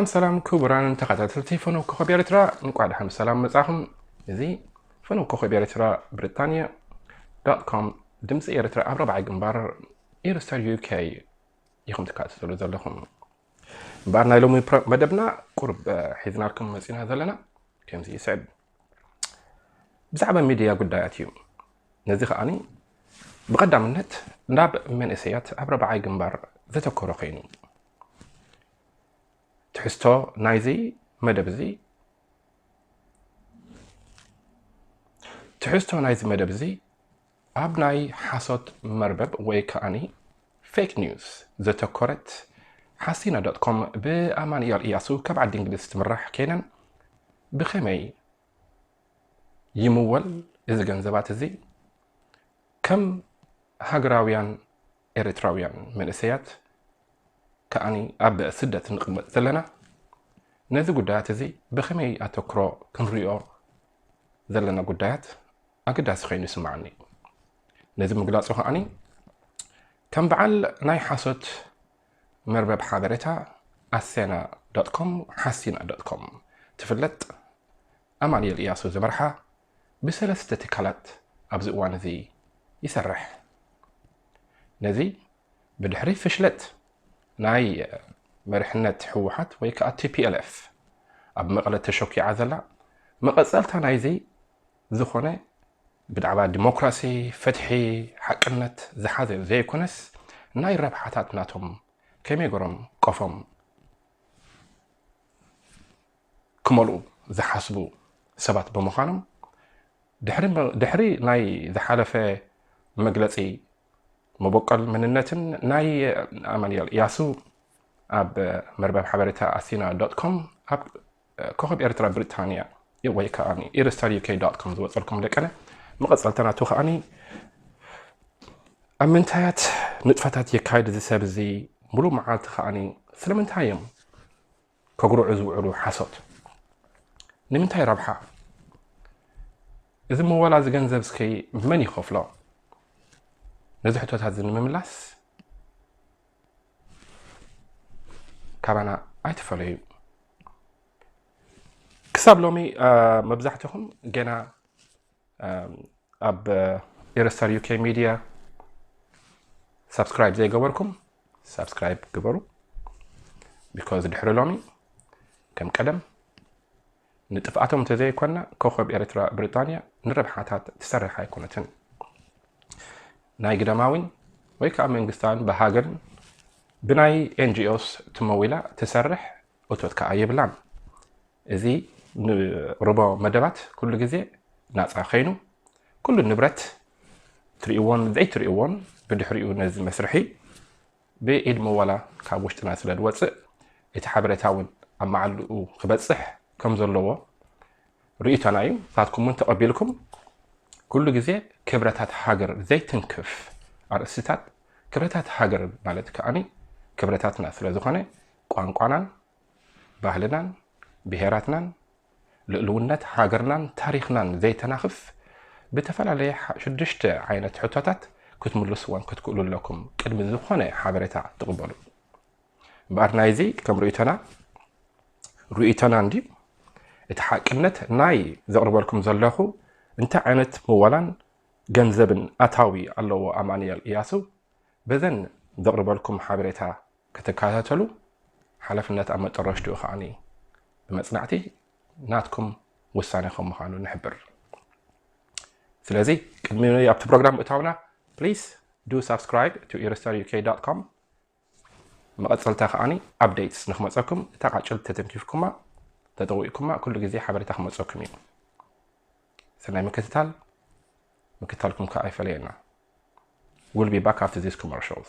ሰላም ሰላም ክቡራን ተኸታተልቲ ፈነው ኮኸብ ኤርትራ እንቋዕ ድሓን ብሰላም መጻኹም እዚ ፈነው ኮኸብ ኤርትራ ብሪጣንያ ዶት ኮም ድምፂ ኤርትራ ኣብ ረብዓይ ግንባር ኢርስተር ዩኬ ኢኹም ትከታተሉ ዘለኹም እምበኣር ናይ ሎሚ መደብና ቁርብ ሒዝናልኩም መፂና ዘለና ከምዚ ይስዕብ ብዛዕባ ሚድያ ጉዳያት እዩ ነዚ ከዓኒ ብቐዳምነት ናብ መንእሰያት ኣብ ረብዓይ ግንባር ዘተኮረ ኮይኑ ትሕዝቶ ናይዚ መደብ እዚ ትሕዝቶ ናይዚ መደብ እዚ ኣብ ናይ ሓሶት መርበብ ወይ ከኣ Fake News ዘተኮረት ሓሲና ዶት ኮም ብኣማኑኤል ኢያሱ ካብ ዓዲ እንግሊዝ ትምራሕ ኬነን ብኸመይ ይምወል እዚ ገንዘባት እዚ ከም ሃገራውያን ኤሪትራውያን መንእሰያት ከኣ ኣብ ስደት ንቕመጥ ዘለና ነዚ ጉዳያት እዚ ብኸመይ ኣተኩሮ ክንሪኦ ዘለና ጉዳያት ኣገዳሲ ከይኑ ይስምዓኒ። ነዚ ምግላጹ ከኣኒ ከም በዓል ናይ ሓሶት መርበብ ሓበሬታ ኣሴና ዶት ኮም፣ ሓሲና ዶት ኮም፣ ትፍለጥ ኣማንኤል እያሱ ዝመርሓ ብሰለስተ ትካላት ኣብዚ እዋን እዚ ይሰርሕ። ነዚ ብድሕሪ ፍሽለት ናይ መሪሕነት ህወሓት ወይ ከዓ ቲፒኤልኤፍ ኣብ መቐለ ተሸኪዓ ዘላ መቐጸልታ ናይዚ ዝኾነ ብዛዕባ ዲሞክራሲ፣ ፍትሒ፣ ሓቅነት ዝሓዘ ዘይኮነስ ናይ ረብሓታት ናቶም ከመይ ገሮም ቆፎም ክመልኡ ዝሓስቡ ሰባት ብምዃኖም ድሕሪ ናይ ዝሓለፈ መግለፂ መበቆል መንነትን ናይ ኣማንኤል እያሱ ኣብ መርበብ ሓበሬታ ኣሲና ዶት ኮም ኣብ ኮኾብ ኤርትራ ብሪጣንያ ወይ ከዓኒ ኤርስታር ዩኬ ዶት ኮም ዝወፀልኩም ደቀነ መቐፀልታ ናቱ ከዓኒ ኣብ ምንታያት ንጥፈታት የካይድ እዚ ሰብ እዚ ሙሉእ መዓልቲ ከዓኒ ስለምንታይ እዮም ከጉርዑ ዝውዕሉ ሓሶት ንምንታይ ረብሓ እዚ መዋላ እዚ ገንዘብ እስኪ መን ይኸፍሎ ነዚ ሕቶታት እዚ ንምምላስ ካባና ኣይትፈለዩ ክሳብ ሎሚ መብዛሕትኹም ገና ኣብ ኤረስታር ዩኬ ሚድያ ሳብስክራይብ ዘይገበርኩም ሳብስክራይብ ግበሩ ቢካዝ ድሕሪ ሎሚ ከም ቀደም ንጥፍኣቶም እንተዘይኮና ኮኾብ ኤርትራ ብሪጣንያ ንረብሓታት ትሰርሕ ኣይኮነትን። ናይ ግዳማዊን ወይ ከኣ መንግስታዊን ብሃገርን ብናይ ኤንጂኦስ ትመዊላ ትሰርሕ እቶት ከኣ የብላን። እዚ ንቕርቦ መደባት ኩሉ ግዜ ናጻ ከይኑ ኩሉ ንብረት ትርእይዎን ዘይትርእይዎን ብድሕሪኡ ነዚ መስርሒ ብኢድ ምወላ ካብ ውሽጥና ስለ ዝወጽእ እቲ ሓበሬታ ውን ኣብ መዓልኡ ክበጽሕ ከም ዘለዎ ርእይቶና ኢዩ። ንሳትኩም ውን ተቐቢልኩም ኩሉ ግዜ ክብረታት ሃገር ዘይትንክፍ ኣርእስቲታት ክብረታት ሃገር ማለት ከኣ ክብረታትና ስለ ዝኾነ ቋንቋናን ባህልናን ብሄራትናን ልእልውነት ሃገርናን ታሪኽናን ዘይተናኽፍ ብተፈላለየ ሽዱሽተ ዓይነት ሕቶታት ክትምልስዎን ክትክእሉ ኣለኩም ቅድሚ ዝኾነ ሓበሬታ ትቕበሉ እምበኣር ናይዚ ከም ርእቶና ርእቶና እንዲ እቲ ሓቅነት ናይ ዘቕርበልኩም ዘለኹ እንታይ ዓይነት ምወላን ገንዘብን ኣታዊ ኣለዎ ኣማንኤል እያሱ በዘን ዘቕርበልኩም ሓበሬታ ክትከታተሉ ሓላፍነት ኣብ መጠረሽትኡ ከኣ ብመጽናዕቲ ናትኩም ውሳኔ ከም ምዃኑ ንሕብር። ስለዚ ቅድሚ ኣብቲ ፕሮግራም ምእታውና please do subscribe to irstaruk dot com መቐጸልታ ከኣ updates ንክመጸኩም እታ ቃጭል ተተንኪፍኩማ ተጠዊቅኩማ ኩሉ ግዜ ሓበሬታ ክመጸኩም እዩ። ሰናይ ምክትታል ምክትታልኩም ከኣ ኣይፈለየና። We'll be back after these commercials.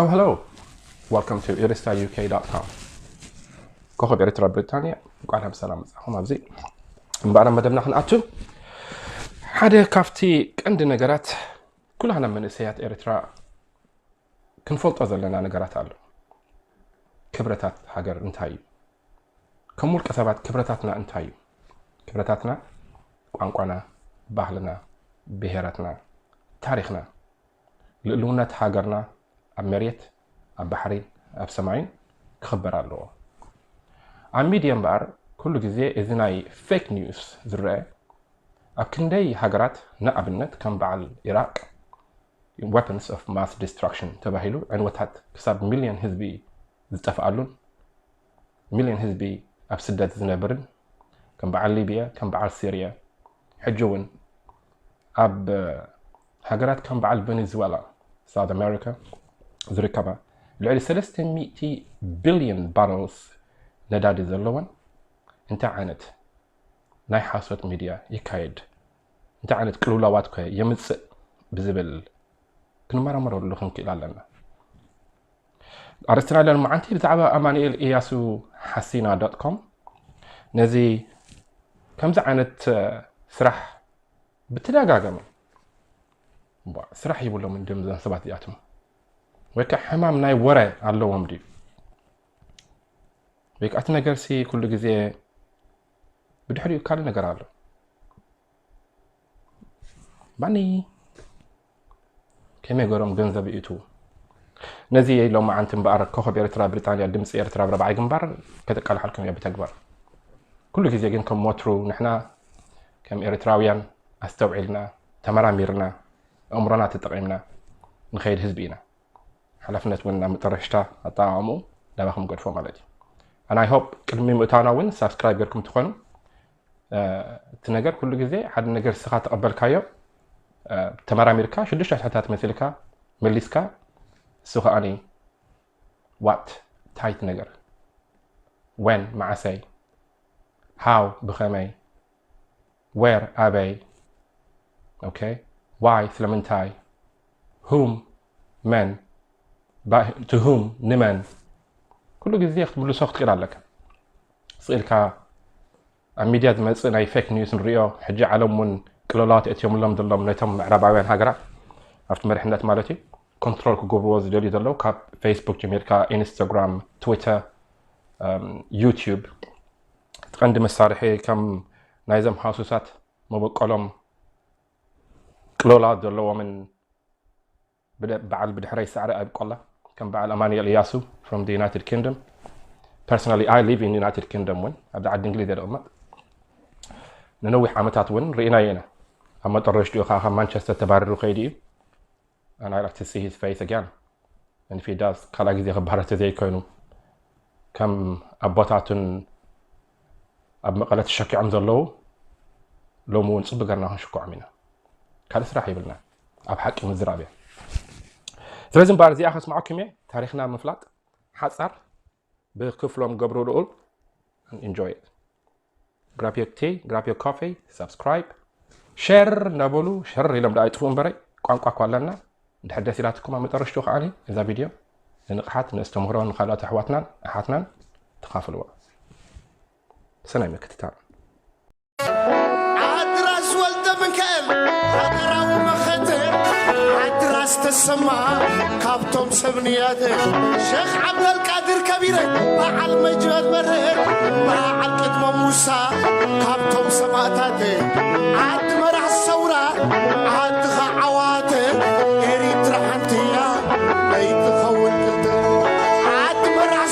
Oh, hello. Welcome to iristauk.com. ኮኸብ ኤርትራ ብሪጣንያ እንቋዕ ናብ ሰላም መጻኹም ኣብዚ እምበኣር መደብና ክንኣቱ ሓደ ካብቲ ቀንዲ ነገራት ኩላና መንእሰያት ኤርትራ ክንፈልጦ ዘለና ነገራት ኣሎ ክብረታት ሃገር እንታይ እዩ ከም ውልቀ ሰባት ክብረታትና እንታይ እዩ ክብረታትና ቋንቋና ባህልና ብሄራትና ታሪክና ልእልውነት ሃገርና ኣብ መሬት ኣብ ባሕሪን ኣብ ሰማይን ክኽበር ኣለዎ። ኣብ ሚድየ እምበኣር ኩሉ ግዜ እዚ ናይ ፌክ ኒውስ ዝረኣ ኣብ ክንደይ ሃገራት ንኣብነት ከም በዓል ኢራቅ ወፐንስ ኦፍ ማስ ዲስትራክሽን ተባሂሉ ዕንወታት ክሳብ ሚልዮን ህዝቢ ዝጠፍኣሉን ሚልዮን ህዝቢ ኣብ ስደት ዝነብርን ከም በዓል ሊብያ ከም በዓል ሲርያ ሕጂ ውን ኣብ ሃገራት ከም በዓል ቨነዝዋላ ሳውዝ ኣሜሪካ ዝርከባ ልዕሊ ሰለስተ ሚእቲ ቢልዮን ባረልስ ነዳዲ ዘለወን እንታይ ዓይነት ናይ ሓሶት ሚድያ ይካየድ እንታይ ዓይነት ቅልውላዋት ከ የምፅእ ብዝብል ክንመራመረሉ ክንክእል ኣለና። ኣርስትና ለን መዓንቲ ብዛዕባ ኣማኒኤል እያሱ ሓሲና ዶት ኮም ነዚ ከምዚ ዓይነት ስራሕ ብተደጋጋሚ ስራሕ ይብሎም እንድም ዘን ሰባት እዚኣቶም ወይ ከዓ ሕማም ናይ ወረ ኣለዎም ድዩ ወይ ከዓ እቲ ነገርሲ ኩሉ ግዜ ብድሕሪኡ ካልእ ነገር ኣሎ ባኒ ከመይ ገሮም ገንዘብ ይእትዉ ነዚ ሎማዓንቲ እምበኣር ኮኾብ ኤርትራ ብሪጣንያ ድምጺ ኤርትራ ኣብ ራብዓይ ግንባር ከተቃልሓልኩም እያ ብተግባር ኩሉ ግዜ ግን ከም ወትሩ ንሕና ከም ኤርትራውያን ኣስተውዒልና ተመራሚርና ኣእምሮና ተጠቒምና ንኸይድ ህዝቢ ኢና ሓላፍነት እውን ናብ መጠረሽታ ኣጠቃቕሙ ናባኹም ገድፎ ማለት እዩ ኣናይ ሆፕ ቅድሚ ምእታና እውን ሳብስክራይብ ገርኩም ትኾኑ እቲ ነገር ኩሉ ግዜ ሓደ ነገር እስኻ ተቐበልካዮ ተመራሚርካ ሽዱሽተ ኣስሕታት መሲልካ መሊስካ እሱ ከዓኒ ዋት ታይት ነገር ወን መዓሰይ ሃው ብኸመይ ዌር ኣበይ ኦኬ ዋይ ስለምንታይ ሁም መን ትሁም ንመን ኩሉ ግዜ ክትምልሶ ክትክእል ኣለካ ስኢልካ ኣብ ሚድያ ዝመፅእ ናይ ፌክ ኒውስ ንሪኦ ሕጂ ዓለም ውን ቅልውላዋት የእትዮምሎም ዘሎም ነቶም ምዕራባውያን ሃገራት ኣብቲ መሪሕነት ማለት እዩ ኮንትሮል ክገብርዎ ዝደልዩ ዘለው ካብ ፌስቡክ ጀሚርካ ኢንስታግራም ትዊተር ዩቲዩብ እቲ ቀንዲ መሳርሒ ከም ናይዞም ሃሱሳት መበቆሎም ቅልውላዋት ዘለዎምን በዓል ብድሕረይ ሳዕሪ ኣይብቆላ ከም በዓል ኣማኑኤል እያሱ from the United Kingdom personally I live in United Kingdom ውን ኣብዚ ዓዲ እንግሊዝ እየ ዝቕመጥ ንነዊሕ ዓመታት ውን ርኢናዮ ኢና ኣብ መጠረሽትኡ ከዓ ካብ ማንቸስተር ተባሪሩ ከይዱ እዩ and I like to see his face again and if he does ካልኣ ግዜ ክባረር ተዘይኮይኑ ከም ኣቦታቱን ኣብ መቐለ ተሸኪዖም ዘለዉ ሎሚ እውን ፅቡቅ ገርና ክንሽክዖም ኢና ካልእ ስራሕ ይብልና ኣብ ሓቂ ምዝራብ እያ ስለዚ እምበኣር እዚኣ ከስምዓኩም እየ ታሪክና ምፍላጥ ሓፃር ብክፍሎም ገብሩ ልኡል ኢንጆይ grab your tea grab your coffee subscribe ሸር እናበሉ ሸር ኢሎም ዳኣ ይጥፍኡ እምበረይ ቋንቋ እኳ ኣለና ድሕር ደስ ኢላትኩም ኣብ መጠረሽቱ ከዓ እዛ ቪድዮ ንንቕሓት ንእስተምህሮ ንካልኦት ኣሕዋትናን ኣሓትናን ተኻፍልዎ ሰናይ ምክትታል ዓድራስ ወልደምካኤል ሃገራዊ መኸተ ዓድራስ ተሰማ ካብቶም ሰብ ንያተ ሸኽ ዓብደልቃድር ከቢረ በዓል መጅበል በረ በዓል ቅድመ ሙሳ ካብቶም ሰማእታተ ዓዲ መራሕ ሰውራ ዓድኻ ዓዋተ ኤሪትራ ሓንቲያ ለይትኸውን ክልተ ዓዲ መራሕ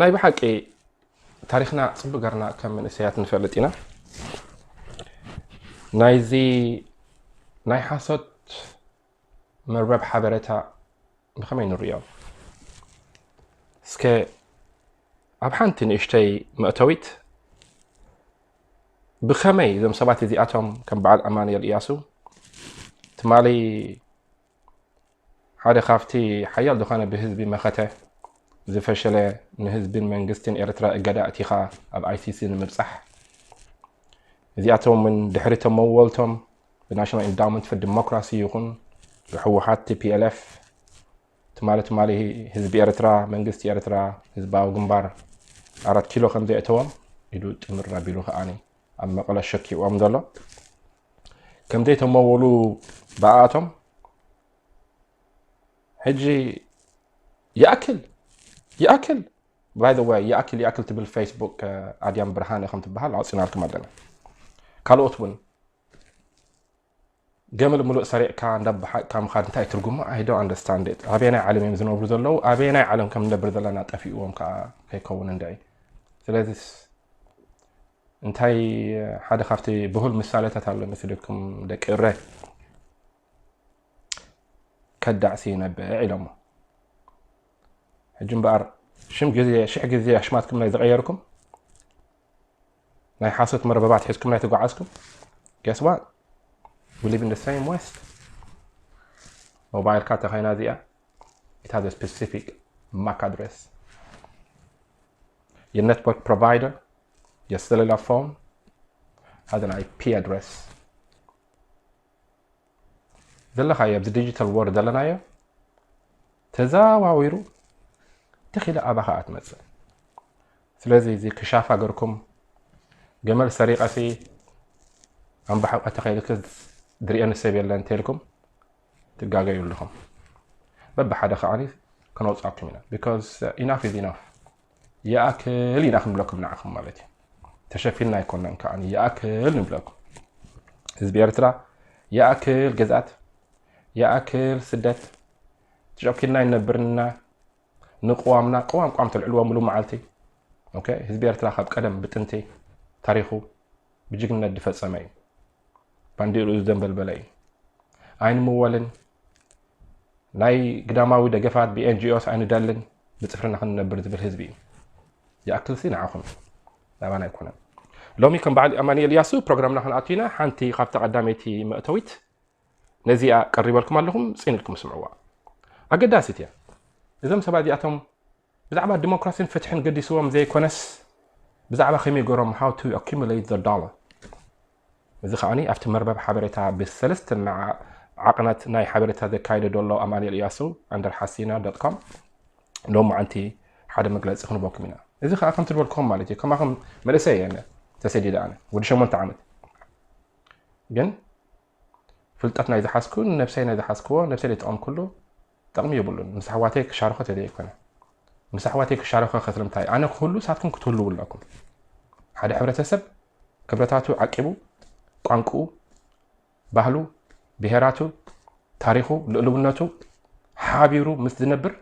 ናይ ብሓቂ ታሪክና ጽብ ገርና ከም መንእሰያት ንፈልጥ ኢና ናይዚ ናይ ሓሶት መርበብ ሓበረታ ብከመይ ንርእዮ እስከ ኣብ ሓንቲ ንእሽተይ መእተዊት ብከመይ እዞም ሰባት እዚኣቶም ከም በዓል ኣማንኤል እያሱ ትማሊ ሓደ ካብቲ ሓያል ዝኾነ ብህዝቢ መኸተ ዝፈሸለ ንህዝብን መንግስትን ኤርትራ እገዳ እቲኻ ኣብ ኣይሲሲ ንምብጻሕ እዚኣቶም ውን ድሕሪ እቶም መወልቶም ብናሽናል ኢንዳውመንት ፎር ዲሞክራሲ ይኹን ብሕወሓት ቲፒኤልኤፍ ትማሊ ትማሊ ህዝቢ ኤርትራ መንግስቲ ኤርትራ ህዝባዊ ግንባር ኣራት ኪሎ ከም ዘየእተዎም ኢዱ ጥምር ኣቢሉ ከኣ ኣብ መቐለ ሸኪዎም ዘሎ ከም ዘይተመወሉ ብኣቶም ሕጂ ይኣክል ይኣክል ባይ ዘ ወይ ይኣክል ይኣክል ትብል ፌስቡክ ኣድያም ብርሃነ ከም ትበሃል ኣውፅናልኩም ኣለና ካልኦት እውን ገመል ምሉእ ሰሪዕካ እንዳበሓቅካ ምኻድ እንታይ ትርጉሙ ኣይዶ ኣንደርስታንድ ኣበየናይ ዓለም እዮም ዝነብሩ ዘለዉ ኣበየናይ ዓለም ከም ንነብር ዘለና ጠፊእዎም ከዓ ከይከውን እንድዒ ስለዚ እንታይ ሓደ ካብቲ ብሁል ምሳሌታት ኣሎ ንፍልኩም ደቂ እረ ከዳዕ ሲነብዕ ኢሎሞ ሕጂ እምበኣር ሽም ግዜ ሽሕ ግዜ ኣሽማትኩም ናይ ዝቐየርኩም ናይ ሓሶት መረበባት ሒዝኩም ናይ ተጓዓዝኩም ገስዋ ብሊቭ ኢን ሰም ወስት ሞባይልካ ተኸይና እዚኣ ኢት ሃዝ ስፔሲፊክ ማክ ኣድሬስ የነትወርክ ፕሮቫይደር የሰለላ ፎን ሓደ ናይ ፒ ኣድረስ ዘለኻዮ ኣብዚ ዲጂታል ወር ዘለናዮ ተዘዋዊሩ ተኺለ ኣባኻ ኣትመፅእ ስለዚ እዚ ክሻፍ ሃገርኩም ገመል ሰሪቐሲ ኣምባሕቆ ተኸይልክስ ድሪኤን ሰብ የለን እንተልኩም ትጋገዩ ኣለኹም በብሓደ ከዓኒ ከነውጻኩም ኢና ቢኮዝ ኢናፍ ኢዝ ኢናፍ ይኣክል ኢና ክንብለኩም ንዓኹም ማለት እዩ ተሸፊንና ኣይኮናን ከዓ ይኣክል ንብለኩም ህዝቢ ኤርትራ ይኣክል ግዝኣት ይኣክል ስደት ተሸኪልና ይነብርና ንቅዋምና ቅዋም ቋም ተልዕልዎ ምሉ መዓልቲ ህዝቢ ኤርትራ ካብ ቀደም ብጥንቲ ታሪኹ ብጅግነት ዝፈፀመ እዩ ባንዴርኡ ዝደንበልበለ እዩ። ኣይንምወልን፣ ናይ ግዳማዊ ደገፋት ብኤንጂኦስ ኣይንደልን፣ ብጽፍርና ክንነብር ዝብል ህዝቢ እዩ። ይኣክልሲ ንዓኹም ናባና ኣይኮነን። ሎሚ ከም በዓል ኣማኒኤል ያሱ ፕሮግራምና ክንኣቱ ኢና። ሓንቲ ካብታ ቀዳመይቲ መእተዊት ነዚኣ ቀሪበልኩም ኣለኹም፣ ጽን ኢልኩም ስምዕዋ። ኣገዳሲት እያ። እዞም ሰባት እዚኣቶም ብዛዕባ ዲሞክራሲን ፍትሕን ገዲስዎም ዘይኮነስ ብዛዕባ ከመይ ገሮም how to accumulate the dollar እዚ ከኣ ኣብቲ መርበብ ሓበሬታ ብሰለስተ ዓቕናት ናይ ሓበሬታ ዘካይደ ዘሎ ኣማኒኤል እያሱ ኣንደር ሓሲና ዶት ኮም ሎም መዓንቲ ሓደ መግለፂ ክንበኩም ኢና እዚ ከዓ ከምቲ ዝበልኩም ማለት እዩ ከማኹም መንእሰይ እየ ተሰዲደ ኣነ ወዲ ሸሞንተ ዓመት ግን ፍልጠት ናይ ዝሓዝኩ ንነብሰይ ናይ ዝሓዝክዎ ነብሰይ ዘይጠቐምኩሉ ጠቕሚ የብሉን። ምስ ኣሕዋተይ ክሻረኾ ተደይ ኣይኮነ ምስ ኣሕዋተይ ክሻረኾ ከስልምታይ ኣነ ክህሉ ንሳትኩም ክትህልው ኣለኩም። ሓደ ሕብረተሰብ ክብረታቱ ዓቂቡ ቋንቁኡ ባህሉ ብሄራቱ ታሪኹ ልእልውነቱ ሓቢሩ ምስ ዝነብር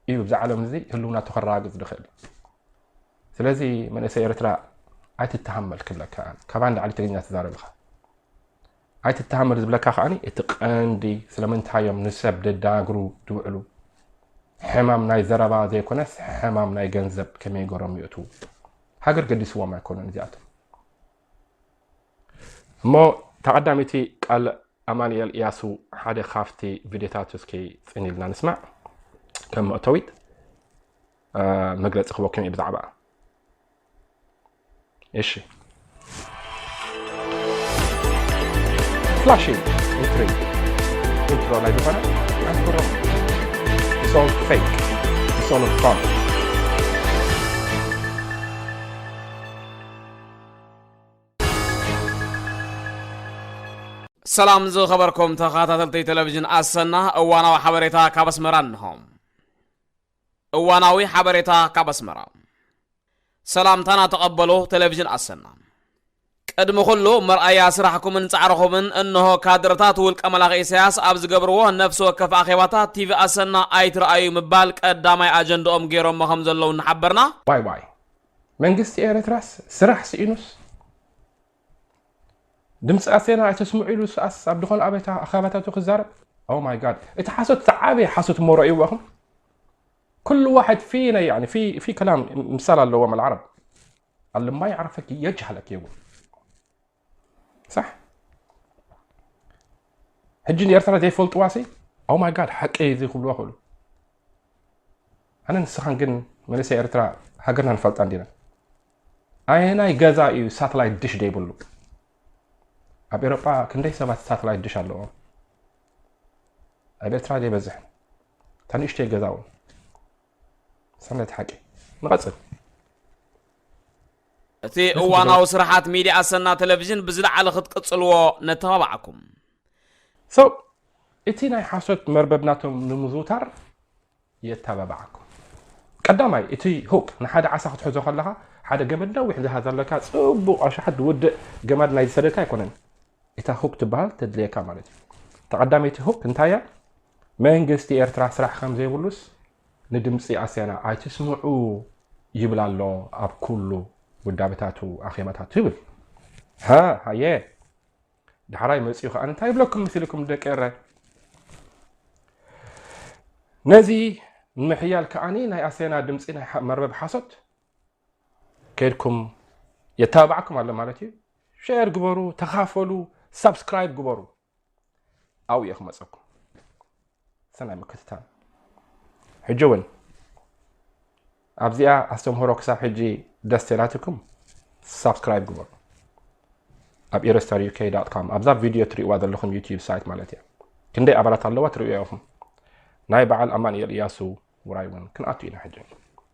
እዩ ብዛ ዓለም እዚ ህልውናቱ ከረጋግፅ ዝኽእል። ስለዚ መንእሰይ ኤርትራ ኣይትተሃመል ክብለካ ኣነ ካብኣ ንላዕሊ ትግርኛ ትዛረብ ኢኻ ኣይትተሃመል ዝብለካ ከዓኒ እቲ ቀንዲ ስለምንታይ እዮም ንሰብ ደዳግሩ ዝውዕሉ ሕማም ናይ ዘረባ ዘይኮነስ ሕማም ናይ ገንዘብ ከመይ ገሮም ይእትዉ ሃገር ገዲስዎም ኣይኮነን እዚኣቶም እሞ ተቐዳሚቲ ቃል ኣማንኤል እያሱ ሓደ ካብቲ ቪድዮታት እስኪ ፅን ኢልና ንስማዕ ከም መእተዊት መግለፂ ክበኩም እየ ብዛዕባ እሺ ፍላሽንግ ኢንትሪ ኢንትሮ ላይ ዝኾነ ኣንትሮ ሶል ፌክ ሶል ፍሮንት ሰላም ዝኸበርኩም ተኸታተልቲ ቴሌቭዥን ኣሰና እዋናዊ ሓበሬታ ካብ ኣስመራ እንሆም እዋናዊ ሓበሬታ ካብ ኣስመራ። ሰላምታና ተቐበሉ ተለቪዥን ኣሰና። ቅድሚ ኩሉ መርኣያ ስራሕኩምን ጻዕርኹምን እንሆ ካድረታት ውልቀ መላኺ ኢሳያስ ኣብ ዝገብርዎ ነፍሲ ወከፍ ኣኼባታት ቲቪ ኣሰና ኣይትርኣዩ ምባል ቀዳማይ ኣጀንድኦም ጌሮሞ ከም ዘለዉ እናሓበርና፣ ዋይ ዋይ መንግስቲ ኤረትራስ ስራሕ ሲኢኑስ። ድምፂ ኣሰና ኣይተስምዑ ኢሉ ሰኣስ ኣብ ዝኾነ ኣበታ ኣኸባታቱ ክዛረብ ኦ ማይ ጋድ እቲ ሓሶት ዝዓበየ ሓሶት ሞሮ እዩ ዋኹም ኩሉ ዋሕድ ፊ ናይ ያኒ ፊ ፊ ከላም ምሳል ኣለዎም ኣልዓረብ ኣለ ማይ ዓረፈኪ የጅሃለኪ ይቡ ሳሕ ሕጂ ንኤርትራ ዘይፈልጥዋሲ ኦ ማይ ጋድ ሓቂ እዚ ክብልዎ ክእሉ ኣነ ንስኻን ግን መንእሰይ ኤርትራ ሃገርና ንፈልጣ እንዲና ኣየናይ ገዛ እዩ ሳትላይት ድሽ ደይብሉ ኣብ ኤሮጳ ክንደይ ሰባት ሳትላይት ድሽ ኣለዎም ኣብ ኤርትራ ደይበዝሕ እታ ንእሽተይ ገዛ እውን ሰናይቲ ሓቂ ንቐፅል እቲ እዋናዊ ስራሓት ሚዲያ ኣሰና ቴሌቭዥን ብዝለዓለ ክትቅፅልዎ ነተባባዕኩም ሰው እቲ ናይ ሓሶት መርበብ ናቶም ንምዝውታር የተባብዓኩም ቀዳማይ እቲ ሁክ ንሓደ ዓሳ ክትሕዞ ከለኻ ሓደ ገመድ ነዊሕ ዝሃዘ ኣለካ ጽቡቕ ኣሽሓት ዝውድእ ገመድ ናይ ዝሰደድካ ኣይኮነን እታ ሁክ ትበሃል ተድልየካ ማለት እዩ ተቐዳመይቲ ሁክ እንታይ እያ መንግስቲ ኤርትራ ስራሕ ከም ዘይብሉስ ንድምፂ ኣስያና ኣይትስምዑ ይብል ኣሎ ኣብ ኩሉ ውዳበታቱ ኣኼባታቱ ይብል ሃ ሃየ ዳሕራይ መጺኡ ከኣ እንታይ ይብለኩም ምስልኩም ደቂ ኤረ ነዚ ንምሕያል ከኣኒ ናይ ኣሰና ድምፂ ናይ መርበብ ሓሶት ከድኩም የታባዕኩም ኣሎ ማለት እዩ ሸር ግበሩ ተኻፈሉ ሳብስክራይብ ግበሩ ኣብኡ እየ ክመፀኩም ሰናይ ምክትታል ሕጂ እውን ኣብዚኣ ኣስተምህሮ ክሳብ ሕጂ ደስ ተላትኩም ሳብስክራይብ ግበሩ ኣብ ኢረስታር ዩኬ ዳት ካም ኣብዛ ቪድዮ ትሪእዋ ዘለኹም ዩትዩብ ሳይት ማለት እያ ክንደይ ኣባላት ኣለዋ ትርእዮ ኢኹም ናይ በዓል ኣማንኤል እያሱ ውራይ እውን ክንኣቱ ኢና ሕጂ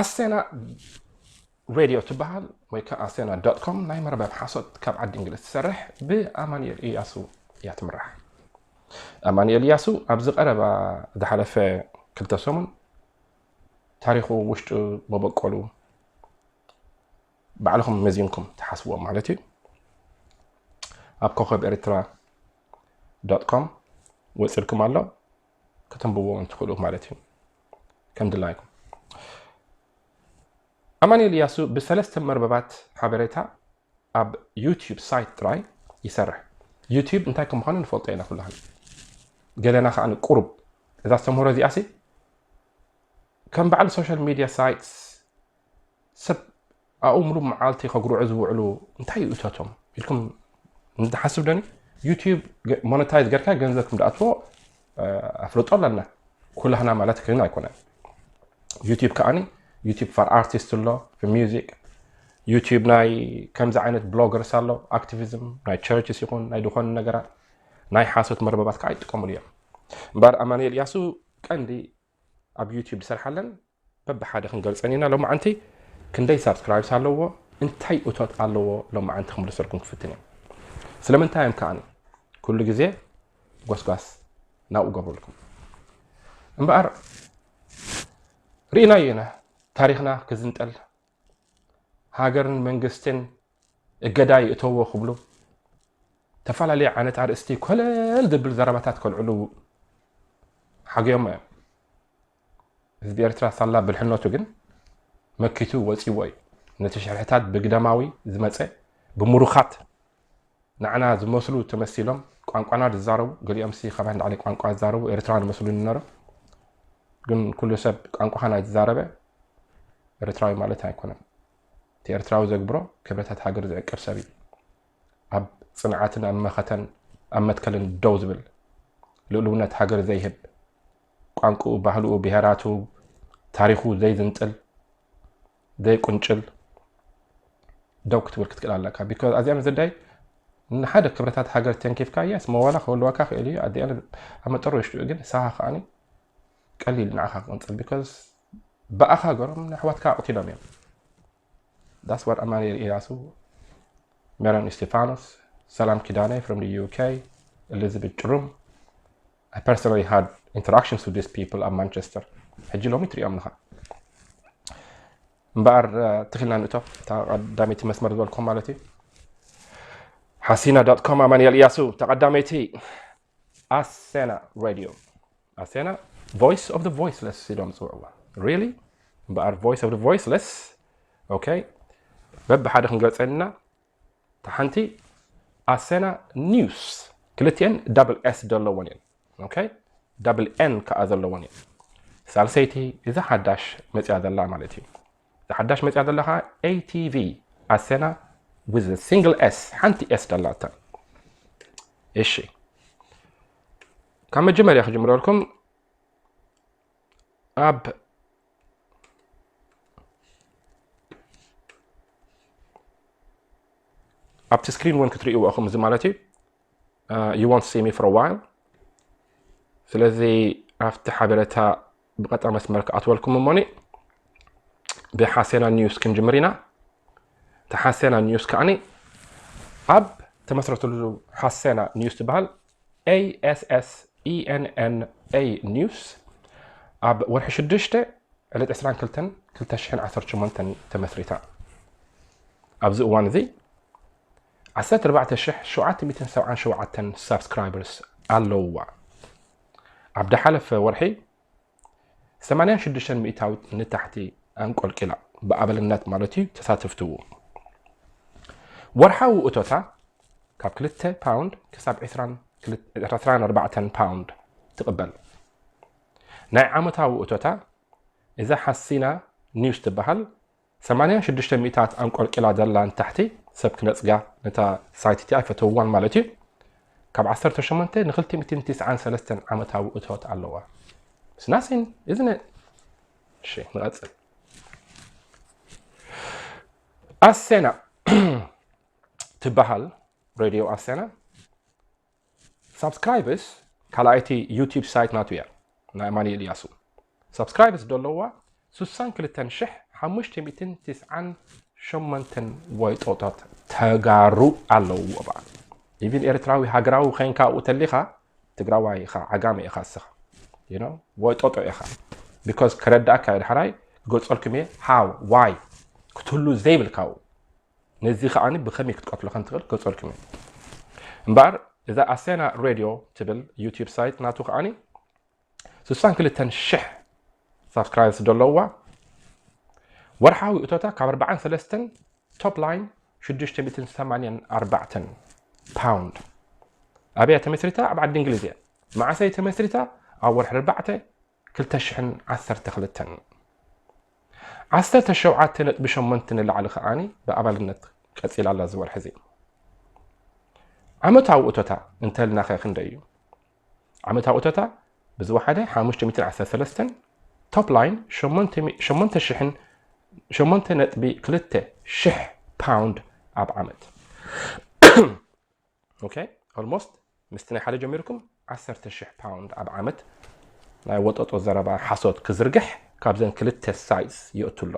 ኣሰና ሬድዮ ትበሃል ወይ ከዓ ኣሰና ዶት ኮም ናይ መርበብ ሓሶት ካብ ዓዲ እንግሊዝ ትሰርሕ ብኣማንኤል እያሱ እያ ትምራሕ ኣማንኤል እያሱ ኣብዚ ቀረባ ዝሓለፈ ክልተ ሰሙን ታሪኹ ውሽጡ መበቆሉ ባዕልኹም መዚንኩም ትሓስብዎ ማለት እዩ ኣብ ኮኸብ ኤርትራ ዶት ኮም ወፂልኩም ኣሎ ከተንብብዎም ትኽእሉ ማለት እዩ ከም ድላይኩም። ኣማኒኤል እያሱ ብሰለስተ መርበባት ሓበሬታ ኣብ ዩቲዩብ ሳይት ጥራይ ይሰርሕ። ዩቲዩብ እንታይ ከም ምዃኑ ንፈልጦ ኢና ኩላህን ገለና ከዓ ንቁሩብ እዛ ዝተምህሮ እዚኣሲ ከም በዓል ሶሻል ሚድያ ሳይትስ ሰብ ኣብኡ ምሉእ መዓልቲ ከጉርዑ ዝውዕሉ እንታይ እዩ እቶቶም ኢልኩም ንሓስብ ደኒ ዩቲዩብ ሞነታይዝ ገርካ ገንዘብ ክም ድኣትዎ ኣፍልጦ ኣለና ኩላህና ማለት ኮይኑ ኣይኮነን ዩቲዩብ ከዓኒ ዩቲዩብ ፋር ኣርቲስት ኣሎ ሚዚክ ዩቲዩብ ናይ ከምዚ ዓይነት ብሎገርስ ኣሎ ኣክቲቪዝም ናይ ቸርችስ ይኹን ናይ ዝኾኑ ነገራት ናይ ሓሶት መርበባት ከዓ ይጥቀሙሉ እዮም እምበር ኣማኒኤል ያሱ ቀንዲ ኣብ ዩቱብ ዝሰርሓለን በብሓደ ክንገልፀን ኢና ሎማዓንቲ ክንደይ ሳብስክራይብስ ኣለዎ እንታይ እቶት ኣለዎ ሎማዓንቲ ክምልሰልኩም ክፍትን እየ ስለምንታይ እዮም ከዓኒ ኩሉ ግዜ ጎስጓስ ናብኡ ገብረልኩም እምበኣር ርኢናዮ ኢና ታሪክና ክዝንጠል ሃገርን መንግስትን እገዳ ይእተዎ ክብሉ ተፈላለየ ዓይነት ኣርእስቲ ኮለል ዝብል ዘረባታት ከልዕሉ ሓገዮሞ እዮም ህዝቢ ኤርትራ ሳላ ብልሕነቱ ግን መኪቱ ወፂዎ እዩ ነቲ ሽርሕታት ብግደማዊ ዝመፀ ብምሩኻት ንዓና ዝመስሉ ተመሲሎም ቋንቋና ዝዛረቡ ገሊኦምሲ ካብ ኣን ላዕሊ ቋንቋ ዝዛረቡ ኤርትራውያን ይመስሉኒ ነሮም ግን ኩሉ ሰብ ቋንቋኻ ናይ ዝዛረበ ኤርትራዊ ማለት ኣይኮነን እቲ ኤርትራዊ ዘግብሮ ክብረታት ሃገር ዝዕቅብ ሰብ እዩ ኣብ ፅንዓትን ኣብ መኸተን ኣብ መትከልን ደው ዝብል ልእልውነት ሃገር ዘይህብ ቋንቁኡ ባህልኡ ብሄራቱ ታሪኹ ዘይዝንጥል ዘይ ቁንጭል ደው ክትብል ክትክእል ኣለካ ቢኮዝ ኣዚኣ ምዝዳይ ንሓደ ክብረታት ሃገር ተንኪፍካ ያስ መዋላ ክህልወካ ክእል እዩ ኣዲኣ ኣብ መጠሩ ውሽጢኡ ግን ንሳኻ ከዓኒ ቀሊል ንዓኻ ክቕንፅል ቢካዝ ብኣኻ ገሮም ንኣሕዋትካ ኣቕቲሎም እዮም ዳስ ዋት ኣማኒኤል ኢያሱ ሜሮን እስጢፋኖስ ሰላም ኪዳነ ፍሮም ዩኬ ኤሊዝቤት ጭሩም I personally had interactions with these people ኣብ ማንቸስተር ሕጂ ሎሚ ትሪኦም ኣለኻ እምበኣር ትኺልና ንእቶ እታ ቀዳመይቲ መስመር ዝበልኩም ማለት እዩ ሓሲና ዶት ኮም ኣማንኤል እያሱ ተቐዳመይቲ ኣሴና ሬድዮ ኣሴና ቮይስ ኦፍ ቮይስለስ ኢሎም ዝፅውዕዋ ሪሊ እምበኣር ቮይስ ኦፍ ቮይስለስ ኦኬ በብሓደ ክንገልፀልና እታ ሓንቲ ኣሰና ኒውስ ክልቲኤን ዳብል ኤስ ዘለወን እየን ኦኬ ዳብል ኤን ከዓ ዘለወን እየን ሳልሰይቲ እዛ ሓዳሽ መፅያ ዘላ ማለት እዩ እዛ ሓዳሽ መፅያ ዘላ ከዓ ኤቲቪ ኣሰና ዊዝ ሲንግል ኤስ ሓንቲ ኤስ ደላታ እሺ ካብ መጀመርያ ክጅምረልኩም ኣብ ኣብቲ ስክሪን እውን ክትርእይዎ ኢኹም እዚ ማለት እዩ ዩ ዋንት ሲ ሚ ፎር ዋይል ስለዚ ኣብቲ ሓበሬታ ብቐጣ መስመር ክኣትወልኩም እሞኒ ብሓሴና ኒውስ ክንጅምር ኢና እቲ ሓሴና ኒውስ ከዓኒ ኣብ ተመስረትሉ ሓሴና ኒውስ ትበሃል ASSENNA News ኣብ ወርሒ ሽዱሽተ ዕለት ዕስራን ክልተን ክልተ ሽሕን ዓሰርተ ሸሞንተን ተመስሪታ ኣብዚ እዋን እዚ ዓሰርተ ኣርባዕተ ሽሕ ሸውዓተ ሚእትን ሰብዓን ሸውዓተን ሳብስክራይበርስ ኣለውዋ ኣብ ደሓለፈ ወርሒ ሰማንያን ሽዱሽተን ሚእታዊት ንታሕቲ ኣንቆልቂላ፣ ብኣባልነት ማለት እዩ፣ ተሳተፍትዎ። ወርሓዊ እቶታ ካብ ክልተ ፓውንድ ክሳብ ዕስራን ኣርባዕተን ፓውንድ ትቕበል። ናይ ዓመታዊ እቶታ እዛ ሓሲና ኒውስ ትበሃል ሰማንያ ሽዱሽተ ሚእታት ኣንቆልቂላ ዘላ ንታሕቲ ሰብ ክነጽጋ ነታ ሳይት እቲኣ ኣይፈተውዋን ማለት እዩ ካብ ዓሰርተ ሸሞንተ ንክልተ ሚእትን ትስዓን ሰለስተን ዓመታዊ እቶት ኣለዋ It's nothing, isn't it? እሺ ንቐጽል ኣሴና ትበሃል ሬድዮ ኣሴና ሳብስክራይብስ ካልኣይቲ ዩቲብ ሳይት ናቱ እያ ናይ ኣማኒኤል እያሱ ሳብስክራይብስ ደለዋ ሱሳን ክልተን ሽሕ ሓሙሽተ ሚእትን ትስዓን ሸሞንተን ወይጦታት ተጋሩ ኣለውዎ በኣ ኢቪን ኤርትራዊ ሃገራዊ ዄንካ ኣብኡ ተሊኻ ትግራዋይ ኢኻ ዓጋመ ኢኻ እስኻ you know ወይጦጦ ኢኻ because ከረዳእካ እየ ዳሕራይ ክገልጸልኩም እየ how why ክትህሉ ዘይብልካኡ ነዚ ከኣ ብከመይ ክትቀትሎ ከም ትክእል ክገልጸልኩም እየ እምበኣር እዛ ኣሰና ሬድዮ ትብል ዩቲብ ሳይት ናቱ ከኣ ስሳን ክልተን ሽሕ ሳብስክራይብስ ዘለውዋ ወርሓዊ እቶታ ካብ ኣርባዓን ሰለስተን ቶፕ ላይን ሽዱሽተ ሚእትን ሰማንያን ኣርባዕተን ፓውንድ ኣበያ ተመስሪታ ኣብ ዓዲ እንግሊዝ እያ መዓሰይ ተመስሪታ ኣብ ወርሒ ኣርባዕተ ክልተ ሽሕን ዓሰርተ ክልተን ዓሰርተ ሸውዓተ ነጥቢ ሸሞንተ ንላዕሊ ከኣ ብኣባልነት ቀጺላ ኣላ። እዚ ወርሒ እዚ ዓመታዊ እቶታ እንተልና ከ ክንደይ እዩ? ዓመታዊ እቶታ ብዝወሓደ ሓሙሽተ ሚእትን ዓሰርተ ሰለስተን ቶፕ ላይን ሸሞንተ ሽሕን ሸሞንተ ነጥቢ ክልተ ሽሕ ፓውንድ ኣብ ዓመት ኦኬ ኦልሞስት ምስቲ ናይ ሓደ ጀሚርኩም ዓሰርተ ሽሕ ፓውንድ ኣብ ዓመት ናይ ወጠጦ ዘረባ ሓሶት ክዝርግሕ ካብዘን ክልተ ሳይትስ ይእቱ ኣሎ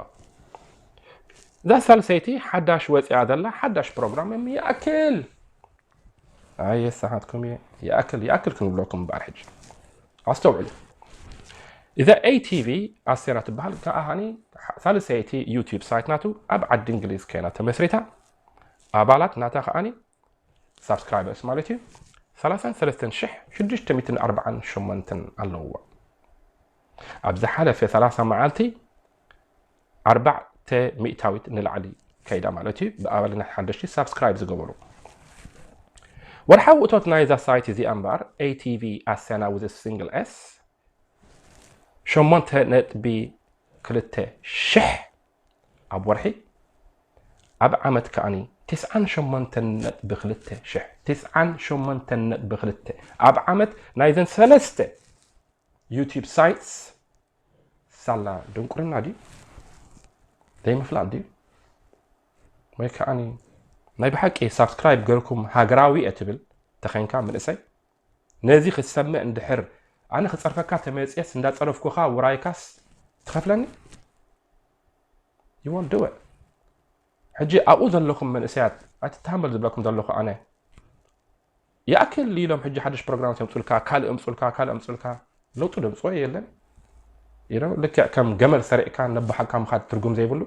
እዛ ሳልሰይቲ ሓዳሽ ወፂኣ ዘላ ሓዳሽ ፕሮግራም እም ይኣክል ኣየ ሰሓትኩም እየ ይኣክል ይኣክል ክንብለኩም እምበኣር ሕጂ ኣስተውዕሉ እዛ ኤቲቪ ኣሴራ ትበሃል ከዓኒ ሳልሰይቲ ዩቲብ ሳይት ናቱ ኣብ ዓዲ እንግሊዝ ኮይና ተመስሪታ ኣባላት ናታ ከኣ ሳብስክራይበርስ ማለት እዩ ሰላሳን ሰለስተን ሽሕ ሽዱሽተ ሚትን ኣርባዓን ሸሞንተን ኣለውዋ ኣብ ዝሓለፈ ሰላሳ መዓልቲ ኣርባዕተ ሚእታዊት ንላዕሊ ከይዳ ማለት እዩ ብኣባልነት ሓደሽቲ ሳብስክራይብ ዝገበሩ ወርሓዊ እቶት ናይዛ ሳይት እዚኣ እምበኣር ኤቲቪ ኣስያና ውዝ ሲንግል ኤስ ሸሞንተ ነጥቢ ክልተ ሽሕ ኣብ ወርሒ ኣብ ዓመት ከኣ ትስዓን ሸሞንተን ነጥቢ ክልተ ሽሕ ትስዓን ሸሞንተን ነጥቢ ክልተ ኣብ ዓመት ናይዘን ሰለስተ ዩቲብ ሳይትስ ሳላ ድንቁርና ድዩ ዘይምፍላጥ ድዩ ወይ ከዓኒ ናይ ብሓቂ ሳብስክራይብ ገርኩም ሃገራዊ እየ ትብል ተኸንካ ምንእሰይ ነዚ ክትሰምዕ እንድሕር ኣነ ክጸርፈካ ተመጽየስ እንዳጸረፍኩኻ ውራይካስ ትኸፍለኒ you won't do it ሕጂ ኣብኡ ዘለኹም መንእሰያት ኣይትተሃመሉ ዝብለኩም ዘለኹ ኣነ ይኣክል ኢሎም ሕጂ ሓድሽ ፕሮግራማት የምጹልካ ካልእ እምጹልካ ካልእ እምጹልካ ለውጢ ደምጽኦ የለን ልክዕ ከም ገመል ሰሪዕካ ነባሓካ ምኻድ ትርጉም ዘይብሉ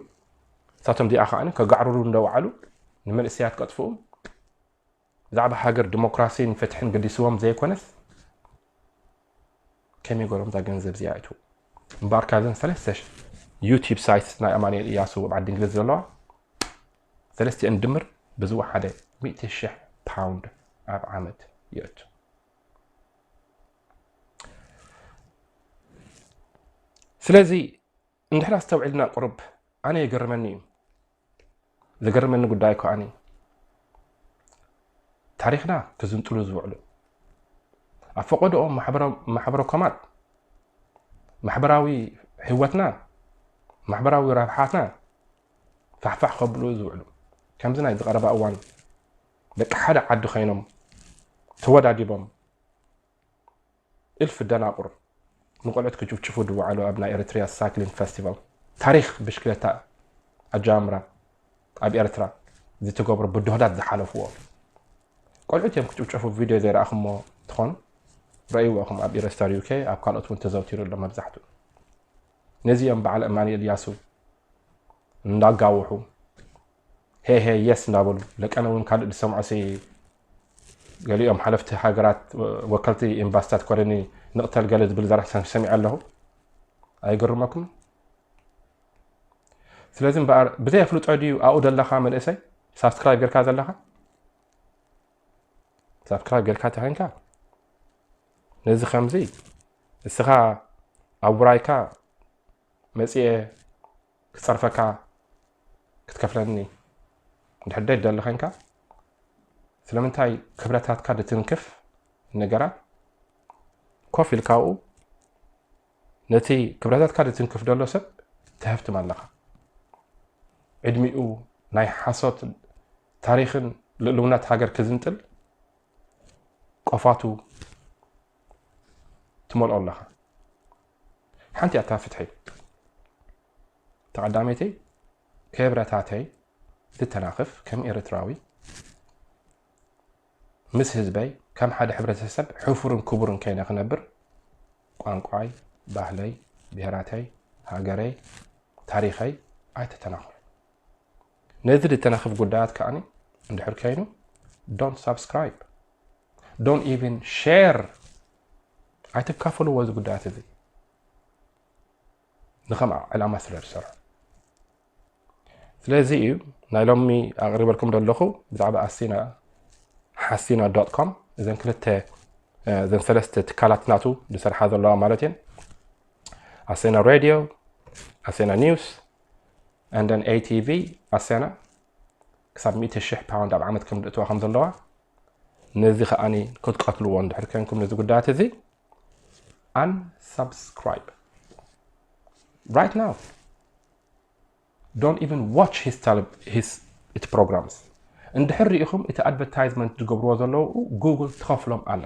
እሳቶም ዚኣ ከዓኒ ከጋዕርሩ እንደወዓሉ ንመንእሰያት ቀጥፍኡም ብዛዕባ ሃገር ዲሞክራሲን ፍትሕን ገዲስዎም ዘይኮነስ ከመይ ገሮም እዛ ገንዘብ እዚኣ ይእትዉ እምበኣር ካብዘን ሰለስተ ዩቲብ ሳይት ናይ ኣማኑኤል እያሱ ኣብ ዓዲ እንግሊዝ ዘለዋ ሰለስቲአን ድምር ብዝወሓደ ሚእቲ ሽሕ ፓውንድ ኣብ ዓመት ይእቱ ስለዚ እንድሕር ኣስተውዒልና ቁሩብ ኣነ ይገርመኒ እዩ ዝገርመኒ ጉዳይ ከኣኒ ታሪኽና ክዝንጥሉ ዝውዕሉ ኣብ ፈቐድኦ ማሕበረ ኮማት ማሕበራዊ ህይወትና ማሕበራዊ ረብሓትና ፋሕፋሕ ከብሉ ዝውዕሉ ከምዚ ናይ ዝቐረባ እዋን ደቂ ሓደ ዓዲ ኮይኖም ተወዳዲቦም እልፊ ደናቁር ንቆልዑት ክጭፍጭፉ ድውዓሉ ኣብ ናይ ኤሪትሪያ ሳይክሊን ፈስቲቫል ታሪኽ ብሽክለታ ኣጀማምራ ኣብ ኤርትራ ዝትገብሮ ብድሆታት ዝሓለፍዎ ቆልዑት እዮም ክጭፍጨፉ ቪድዮ ዘይረኣኹሞ ትኾኑ ረእይዎ እኹም ኣብ ኢረስታር ዩኬ ኣብ ካልኦት እውን ተዘውቲሩ ኣሎ መብዛሕትኡ ነዚ እዮም በዓል እማንኤል ያሱ እንዳጋውሑ ሄሄ የስ እንዳበሉ ለቀነ እውን ካልእ ዝሰምዖ ገሊኦም ሓለፍቲ ሃገራት ወከልቲ ኤምባሲታት ኮለኒ ንቕተል ገለ ዝብል ዘረሕሰን ሰሚዐ ኣለኹ ኣይገርመኩም ስለዚ እምበኣር ብዘይ ኣፍልጦ ድዩ ኣብኡ ዘለካ መንእሰይ ሳብስክራይብ ጌርካ ዘለካ ሳብስክራይብ ጌርካ ተኸንካ ነዚ ከምዚ እስኻ ኣብ ውራይካ መፅኤ ክጸርፈካ ክትከፍለኒ እንድሕር ደይትደሊ ዄንካ፣ ስለምንታይ ክብረታትካ ድትንክፍ? ንገራ። ኮፍ ኢልካ ኣብኡ ነቲ ክብረታትካ ድትንክፍ ዘሎ ሰብ ትሀፍትም ኣለኻ። ዕድሚኡ ናይ ሓሶት ታሪኽን ልእልውናት ሃገር ክዝንጥል ቆፋቱ ትመልኦ ኣለኻ። ሓንቲ ኣታ ፍትሒ ተቀዳመይቲ ክብረታተይ ትተናክፍ ከም ኤረትራዊ ምስ ህዝበይ ከም ሓደ ሕብረተሰብ ሕፉርን ክቡርን ከይነ ክነብር ቋንቋይ ባህለይ ብሄራተይ ሃገረይ ታሪኸይ ኣይተተናኽፉ ነዚ ዝተናኽፍ ጉዳያት ከዓኒ እንድሕር ከይኑ ዶንት ሳብስክራይብ ዶንት ኢቭን ሼር ኣይተካፈልዎ እዚ ጉዳያት እዚ ንከምኣ ዕላማ ስለ ዝሰርሑ ስለዚ እዩ ናይ ሎሚ ኣቕሪበልኩም ዘለኹ ብዛዕባ ኣሲና ሓሲና ዶት ኮም እዘን ክልተ እዘን ሰለስተ ትካላት ናቱ ዝሰርሓ ዘለዋ ማለት እየን ኣሴና ሬድዮ ኣሴና ኒውስ ኣንደን ኤቲቪ ኣሴና ክሳብ ሚእቲ ሽሕ ፓውንድ ኣብ ዓመት ከም ዝእትዋ ከም ዘለዋ ነዚ ከኣ ከትቀትልዎ እንድሕር ከንኩም ነዚ ጉዳያት እዚ unsubscribe right now don't even watch his, tele, his እቲ ፕሮግራምስ እንድሕር ርኢኹም እቲ ኣድቨርታይዝመንት ዝገብርዎ ዘለዉ ጉግል ትኸፍሎም ኣላ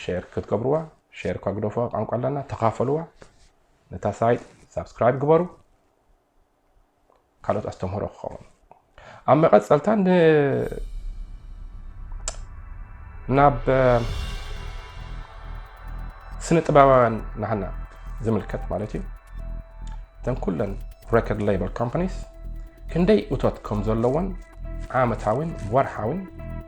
ሼር ክትገብርዋ ሼር እኳ ግደፎ ቋንቋ ኣለና ተኻፈልዋ ነታ ሳይት ሳብስክራይብ ግበሩ ካልኦት ኣስተምህሮ ክኸውን ኣብ መቐፀልታ ናብ ስነ ጥበባውያን ናህና ዝምልከት ማለት እዩ እተን ኩለን ሬኮርድ ሌበል ኮምፓኒስ ክንደይ እቶት ከም ዘለዎን ዓመታዊን ወርሓዊን